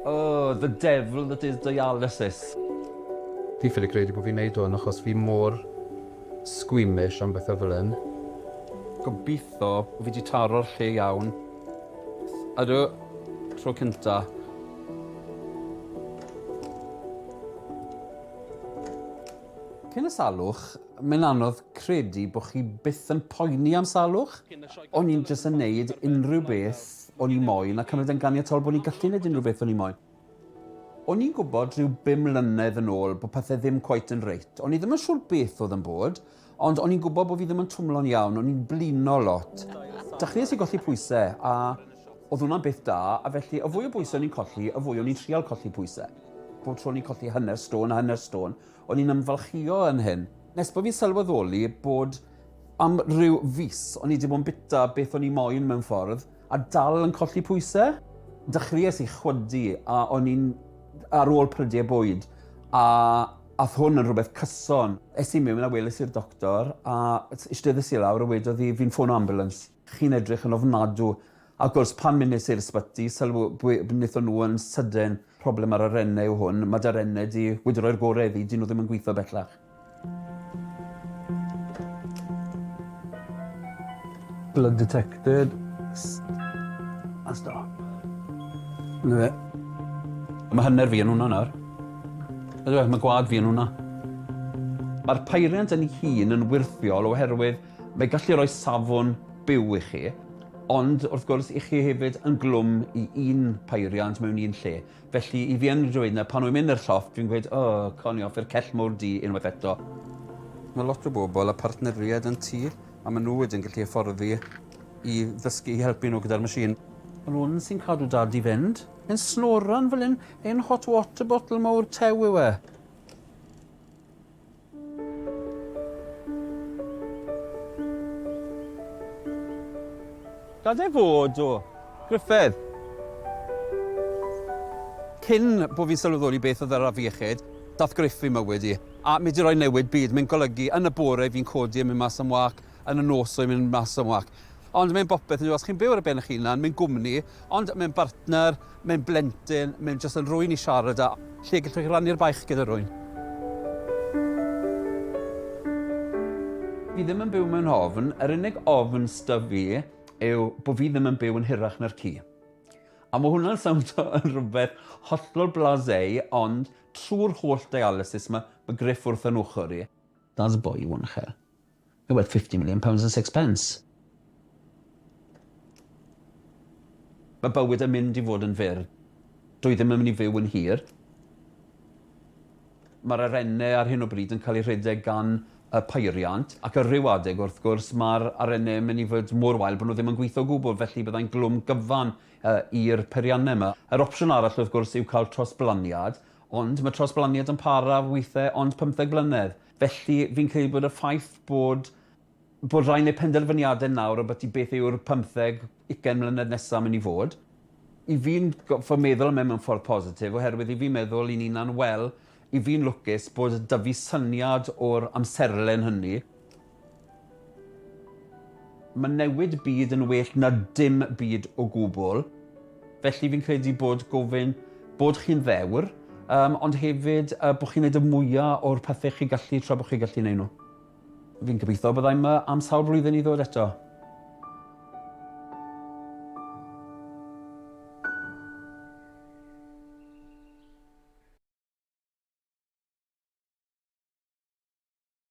Oh, the devil that is dialysis. Fi ffili credu bod fi'n neud hwn achos fi mor squeamish am bethau fel hyn. Gobitho bo fi di taro'r lle iawn. Ydw, tro cynta. Cyn y salwch, mae'n anodd credu bo chi byth yn poeni am salwch. O'n i'n jyst yn neud unrhyw beth o'n i moyn a cymryd e'n ganiatol bo ni'n gallu neud unrhyw beth o'n i moyn. O'n i'n gwbod rhyw bum mlynedd yn ôl bo pethe ddim cweit yn reit. O'n i ddim yn siŵr beth o'dd yn bod, ond o'n i'n gwbod bo fi ddim yn twmlo'n iawn, o'n i'n blino lot. Dechreues i golli pwyse, a o'dd hwnna'n beth da, a felly y fwy o bwyse o'n i'n colli, y fwy o'n i'n trial colli pwyse. Bob tro o'n i'n colli hanner stôn a hanner stôn, O'n i'n ymfalchïo yn hyn, nes bo' fi'n sylweddoli bod am ryw fis o'n i 'di bod yn bita beth o'n i moyn mewn ffordd, a dal yn colli pwyse. Dechreuais i chwydu a o'n i'n ar ôl prydie bwyd, a ath hwn yn rhywbeth cyson. Es i miwn a weles i'r doctor, a eisteddes i lawr a wedodd hi fi'n ffono ambulance. Chi'n edrych yn ofnadw. Ac wrs pan wnes i'r ysbyty, sylw bwy- wnaethon nhw yn sydyn, problem ar y renne yw hwn, ma da renne di, wedi rhoi'r gore iddi, di nhw ddim yn gwitho bellach. Blood detected. A stop. Na fe. Mae hanner fi yn hwnna nawr. Ydw, mae gwad fi yn hwnna. Mae'r peiriant yn ei hun yn wyrthiol oherwydd Mae gallu rhoi safon byw i chi, ond wrth gwrs i chi hefyd yn glwm i un peiriant mewn un lle. Felly i fi yn dweud na pan wy'n mynd i'r llofft fi'n gweud o cawn ni offi'r cell mowr du unwaith eto. Mae lot o bobl â partneriaid yn tŷ a maen nhw wedyn gallu hyfforddi i ddysgu i helpu nhw gyda'r machine. Yr hwn sy'n cadw dad i fynd. Yn snoran fel hyn, ein hot water bottle mowr tew yw e. Gad e fod, o! Gruffudd! Cyn bo fi'n sylweddoli beth oedd yr afiechyd, dath Gruff i mywyd i. A mae 'di rhoi newid byd. Mae'n golygu, yn y bore fi'n codi a mynd mas am wâc, yn y nos oedd mynd mas am walk. Ond mae'n bopeth yn os chi'n byw ar y ben eich hunan, mae'n gwmni, ond mae'n bartner, mae'n blentyn, mae'n jyst yn rwy'n i siarad a lle gallwch chi rannu'r baich gyda rwy'n. Fi ddim yn byw mewn ofn, yr unig ofn sta fi yw bod fi ddim yn byw yn hirach na'r ci. A mae hwnna'n sawndo yn rhywbeth hollol blasé, ond trwy'r holl dialysis mae, mae Griff wrth yn ochr i. That's a boy, one chair. You're worth fifty million pounds and six pence. Mae bywyd yn mynd i fod yn fyr. Dw i ddim yn mynd i fyw yn hir. Mae'r arennau ar hyn o bryd yn cael eu rhedeg gan y peiriant, ac ar ryw adeg, wrth gwrs, mae'r arennau yn mynd i fod mor wael bod nhw ddim yn gweithio o gwbl, felly byddai'n glwm gyfan i'r peiriannau yma. Yr opsiwn arall, wrth gwrs, yw cael trosblaniad, ond mae trosblaniad yn para weithiau ond pymtheg blynedd. Felly, fi'n credu bod y ffaith bod bod rhai'n neud penderfyniadau nawr ambyti beth yw'r pymtheg, ugain mlynedd nesa' myn' i fod, i fi'n gorffod meddwl am e mewn ffordd positif oherwydd i fi meddwl i'n unan wel, i fi'n lwcus bod 'da fi syniad o'r amserlen hynny. Mae newid byd yn well na dim byd o gwbl, felly fi'n credu bod gofyn bod chi'n ddewr, yym, ond hefyd yy bod chi'n neud y mwya o'r pethe chi gallu tra bo' chi gallu neud nhw. Fi'n gobeithio bydda i 'ma am sawl blwyddyn i ddod eto.